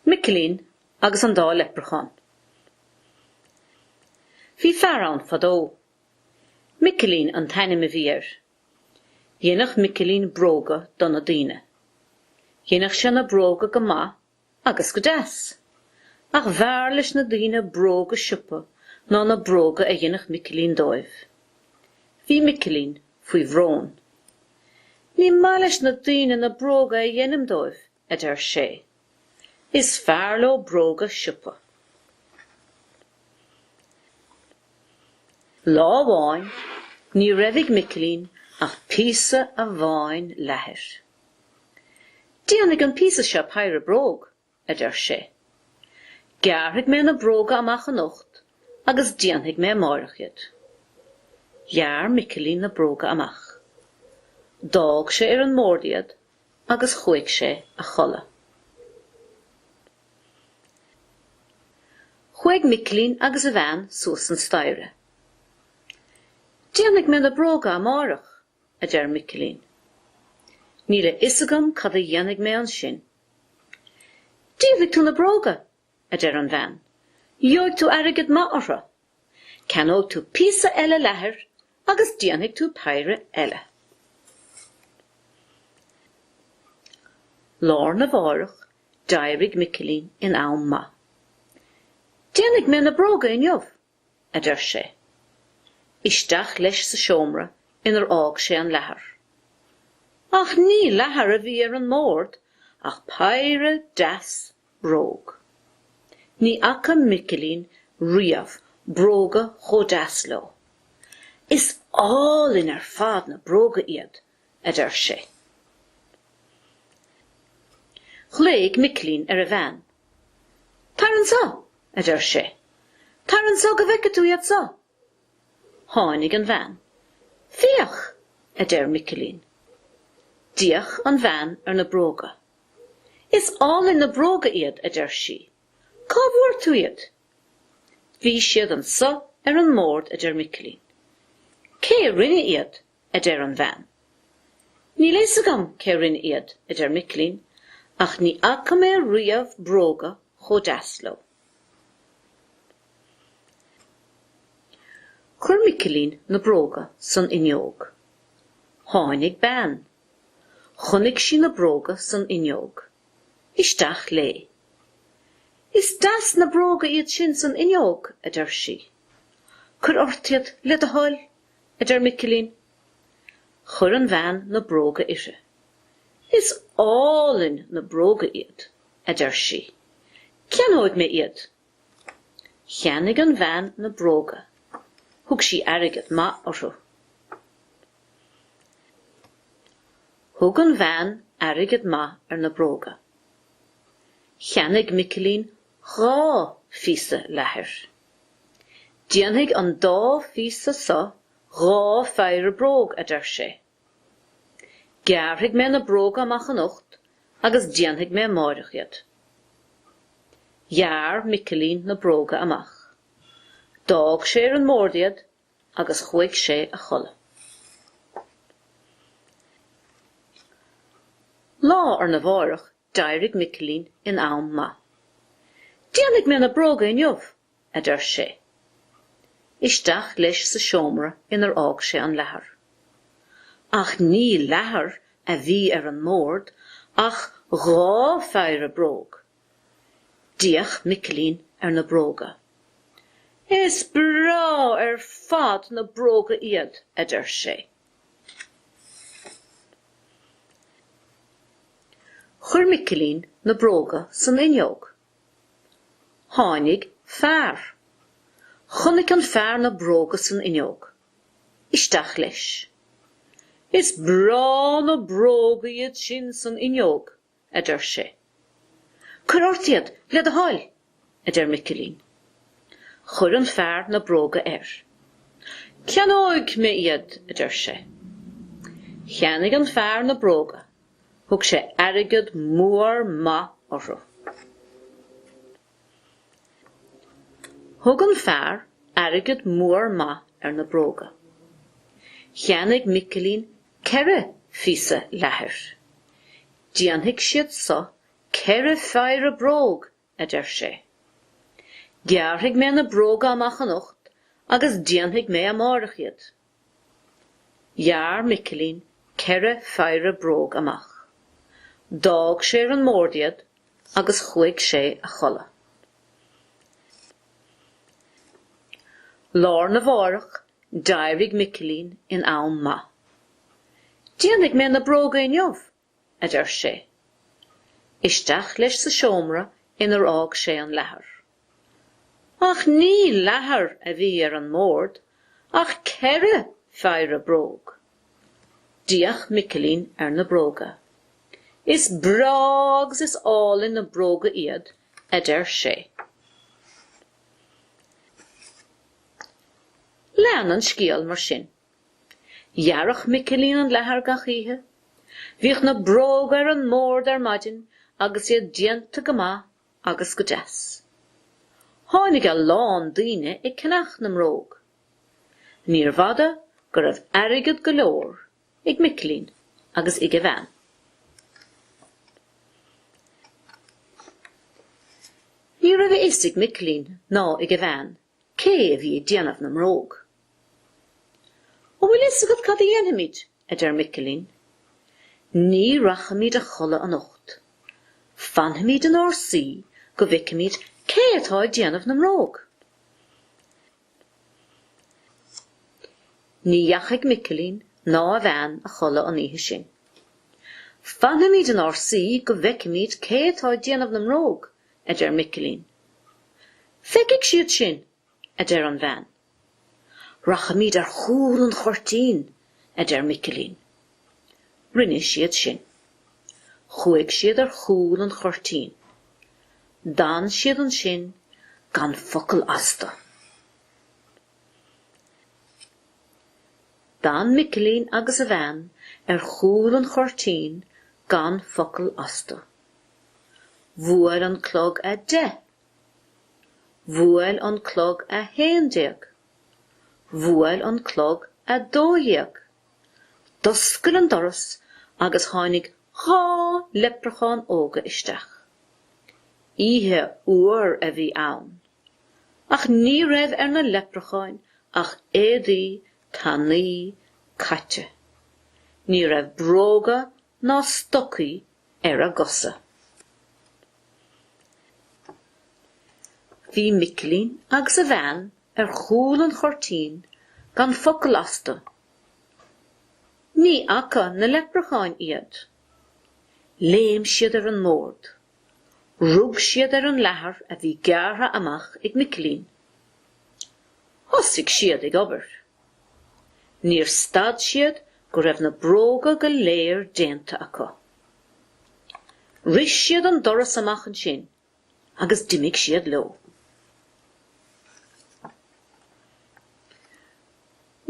Micilín agus an Dá Leipreachán Bhí fear ann fadó. Micilín an t-ainm a bhí air. Dhéanadh Micilín bróga do na daoine. Dhéanadh sé na bróga go maith Agus go deas. Ach b'fhearr leis na daoine bróga siopa ná na bróga a dhéanadh Micilín dóibh. Bhí Micilín faoi bhrón. Ní maith leis na daoine na bróga a dhéanaim dóibh, a deir sé. Is fearr leo bróga siopa. Lá amháin, ní raibh ag Micilín ach píosa amháin leathair. Déanfaidh an píosa seo péire bróg, a deir sé. Gearrfaidh mé na bróga amach anocht agus déanfaidh mé amáireach iad. Ghearr Micilín na bróga amach. D'fhág sé ar an mbord iad agus chuaigh sé a chodladh. Chuaigh Micilín agus a bhean suas an staighre. Déanfaidh mé na bróga amáireach, a deir Micilín. Níl a fhios agam cad a dhéanfaidh mé ansin. Díolfaidh tú na bróga! a deir an bhean. Gheobhaidh tú airgead maith orthu. Ceannóidh tú píosa eile leathair agus déanfaidh tú péire eile. Lá arna mháireach, d'éirigh Micilín in am maith. Déanfaidh mé na bróga inniu! a deir sé. Isteach leis sa seomra inar fhág sé an leathar. Ach ní leathar a bhí ar an mbord ach péire deas bróg. Ní fhaca Micilín riamh bróga chomh deas leo. Is álainn ar fad na bróga iad! a deir sé. Ghlaoigh Micilín ar a bhean. Tar anso! a deir sé. Tar anso go bhfeice tú iad so! Tháinig an bhean. Féach! a deir Micilín. D'fhéach an bhean ar na bróga. Is álainn na bróga iad, a deir sí. Cá bhfuair tú iad? Bhí siad anso ar an mbord, a deir Micilín. Cé a rinne iad? a deir an bhean. Níl fhios agam cé rinne iad, a deir Micilín, ach ní fhaca mé riamh bróga chomh deas leo. Chuir Micilín na bróga san fhuinneog. Tháinig bean. Chonaic sí na bróga san fhuinneog. Isteach léi. Is deas na bróga iad sin san fhuinneog, a deir sí. Cuir ort iad, le do thoil, a deir Micilín. Chuir an bhean na bróga uirthi. Is álainn na bróga iad, a deir sí. Ceannóidh mé iad. Cheannaigh an bhean na bróga. Thug sí airgead maith orthu. Thug an bhean airgead maith ar na bróga. Cheannaigh Micilín dhá phíosa leathair. Déanfaidh an dá phíosa so dhá pheidhre bróg, a deir sé. Gearrfaidh mé na bróga amach anocht agus déanfaidh mé amáireach iad. Ghearr Micilín na bróga amach. D'fhág sé ar an mbord iad agus chuaigh sé a chodladh. Lá arna mháireach D'éirigh Micilín in am maith. Déanfaidh mé na bróga inniu, a deir sé. Isteach leis sa seomra inar fhág sé an leathar. Ach ní leathar a bhí ar an mbord ach dhá pheidhre bróg. D'fhéach Micilín ar na bróga. Is breá ar fad na bróga iad, a deir sé. Chuir Micilín na bróga san fhuinneog. Tháinig fear. Chonaic an fear na bróga san fhuinneog. Isteach leis. Is breá na bróga iad sin san fhuinneog, a deir sé. Cuir ort iad, le do thoil! a deir Micilín. Chuir an fear na bróga air. Ceannóidh mé iad! a deir sé. Cheannaigh an fear na bróga, thug sé airgead mór maith orthu. Thug an fear airgead mór maith ar na bróga. Cheannaigh Micilín ceithre phíosa leathair. Déanfaidh siad so ceithre pheidhre bróg, a deir sé. Gearrfaidh mé na bróga amach anocht agus déanfaidh mé amáireach iad. Ghearr Micilín ceithre pheidhre bróg amach. D'fhág sé ar an mbord iad agus chuaigh sé a chodladh. Lá arna mhárach d'éirigh Micilín in am maith. Déanfaidh mé na bróga inniu, a deir sé. Isteach leis sa seomra inar fhág sé an leathar. Ach ní leathar a bhí ar an mbord ach ceithre pheidhre bróg. D'fhéach Micilín ar na bróga. Is breá agus is álainn na bróga iad, a deir sé. Lean an scéal mar sin. Ghearrfadh Micilín an leathar gach oíche. Bhíodh na bróga ar an mbord ar maidin agus iad déanta go maith agus go deas. Tháinig a lán daoine ag ceannacht na mbróg. Níorbh fhada go raibh airgead go leor ag Micilín agus ag a bhean. Ní raibh a fhios ag Micilín ná ag a bhean cé a bhí ag déanamh na mbróg? An bhfuil fhios agat cad a dhéanfaimid? a deir Micilín. Ní rachaimid a chodladh anocht. Fanfaimid inár suí go bhfeicimid cé atá ag déanamh na mbróg. Ní dheachaigh Micilín ná a bhean a chodladh an oíche sin. Fanfaimid inár suí go bhfeicimid cé atá ag déanamh na mbróg! a deir Micilín. Feicfidh siad sinn, a deir an bhean. Rachaimid ar chúl an chuirtín, a deir Micilín. Rinne siad sin. Chuaigh siad ar chúl an chuirtín. D'fhan siad ansin gan focal astu. D'fhan Micilín agus a bhean ar chúl an chuirtín gan focal astu. Bhuail an clog a deich. Bhuail an clog a haon déag. Bhuail an clog a dó dhéag. D'oscail an doras agus tháinig dhá leipreachán óga isteach. Oíche fhuar a bhí ann. Ach ní raibh ar na leipreacháin ach éadaí tanaí caite. Ní raibh bróga ná stocaí ar a gcosa. Bhí Micilín agus a bhean ar chúl an chuirtín gan focal astu. Ní fhaca na leipreacháin iad. Léim siad ar an mbord. Rug siad ar an leathar a bhí gearrtha amach ag Micilín. Thosaigh siad ag obair. Níor stad siad go raibh na bróga go léir déanta acu. Rith siad an doras amach ansin agus d'imigh siad leo.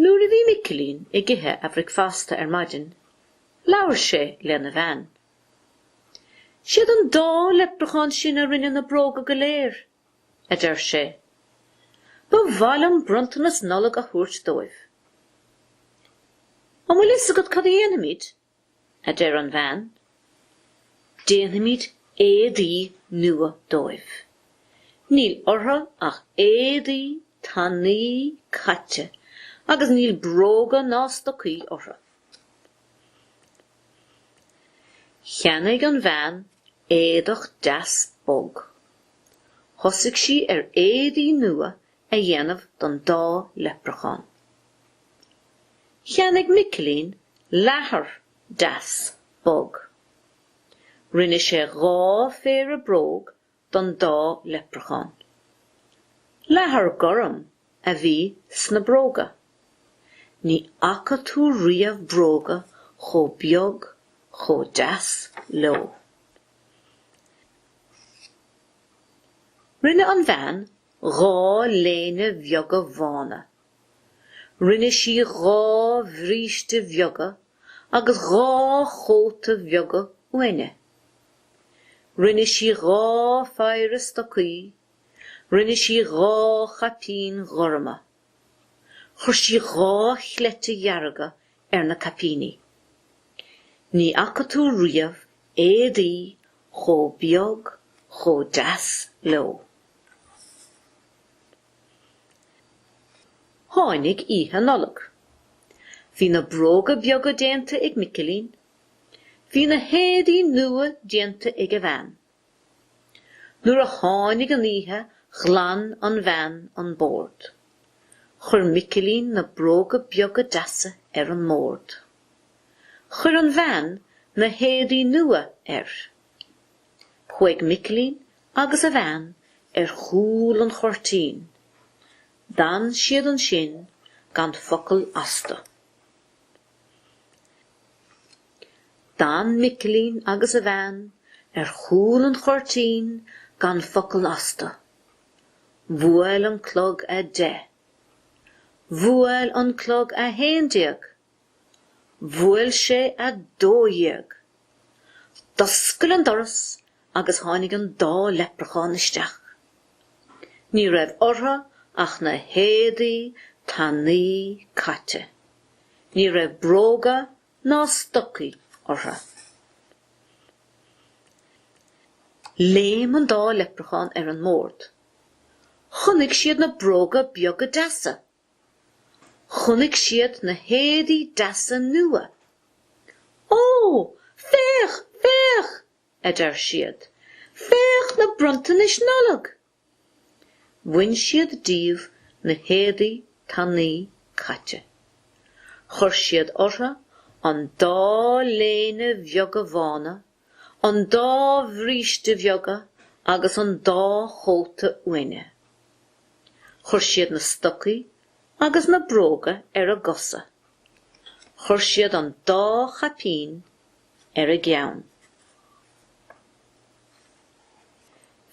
Nuair a bhí Micilín ag ithe a bhricfeasta ar maidin, labhair sé lena bhean. 'Siad an dá leipreachán sin a rinne na bróga go léir, a deir sé. Ba mhaith liom bronntanas Nollag a thabhairt dóibh. An bhfuil fhios agat cad a dhéanfaimid? a deir an bhean. Déanfaimid éadaí nua dóibh. Níl orthu ach éadaí tanaí caite agus níl bróga ná stocaí orthu. Cheannaigh an bhean éadach deas bog. Thosaigh sí ar éadaí nua a dhéanamh don dá leipreachán. Cheannaigh Micilín leathar deas bog. Rinne sé dhá phéire bróg don dá leipreachán. Leathar gorm a bhí sna bróga. Ní fhaca tú riamh bróga chomh beag chomh deas leo. Rinne an bhean dhá léine bheaga bhána. Rinne sí dhá bhríste bheaga agus dhá chóta bheaga uaine. Rinne sí dhá phéire stocaí. Rinne sí dhá chaipín ghorma. Chuir sí dhá chleite dhearga ar na caipíní. Ní fhaca tú riamh éadaí chomh beag chomh deas leo. Tháinig Oíche Nollag. Bhí na bróga beaga déanta ag Micilín Bhí na héadaí nua déanta ag a bhean. Nuair a tháinig an oíche ghlan an bhean an bord. Chuir Micilín na bróga beaga deasa ar an mbord. Chuir an bhean na héadaí nua air. Chuaigh Micilín agus a bhean ar chúl an chuirtín. D'fhan siad ansin gan focal astu. D'fhan Micilín agus a bhean ar chúl an chuirtín gan focal astu. Bhuail an clog a deich. Bhuail an clog a haon déag. Bhuail sé a dó dhéag. D'oscail an doras agus tháinig an dá leipreachán isteach. Ní raibh orthu ach na héadaí tanaí caite. Ní raibh bróga ná stocaí orthu. Léim an dá leipreachán ar an mbord. Chonaic siad na bróga beaga deasa. Chonaic siad na héadaí deasa nua. Ó! Féach! Féach! a deir siad. Féach na bronntanais Nollag! Bhain siad díobh na héadaí tanaí caite. Chuir siad orthu an dá léine bheaga bhána, an dá bhríste bheaga agus an dá chóta uaine. Chuir siad na stocaí agus na bróga ar a gcosa. Chuir siad an dá chaipín ar a gceann.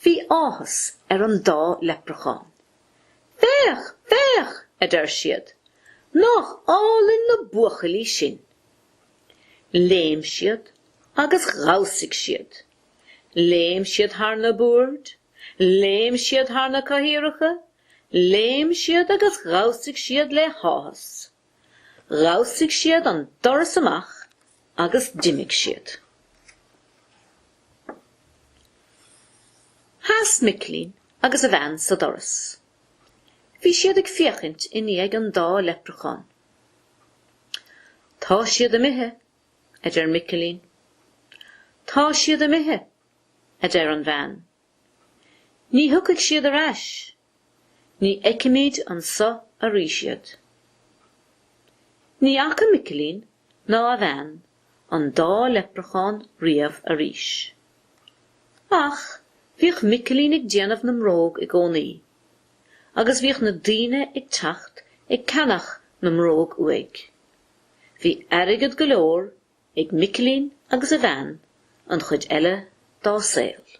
Bhí áthas ar an dá leipreachán. Féach! Féach! a deir siad. Nach álainn na buachaillí sinn! Léim siad agus dhamhsaigh siad. Léim siad thar na boird. Léim siad thar na cathaoireacha. Léim siad agus dhamhsaigh siad le háthas. Dhamhsaigh siad an doras amach agus d'imigh siad. Sheas Micilín agus a bhean sa doras. Bhí siad ag féachaint i ndiaidh an dá leipreachán. Tá siad imithe, a deir Micilín. Tá siad imithe, a deir an bhean. Ní thiocfaidh siad ar ais. Ní fheicfimid anso arís iad. Ní fhaca Micilín ná a bhean an dá leipreachán riamh arís. Ach bhíodh Micilín ag déanamh na mbróg i gcónaí, agus bhíodh na daoine ag teacht ag ceannach na mbróg uaidh. Bhí airgead go leor ag Micilín agus a bhean an chuid eile dá saol.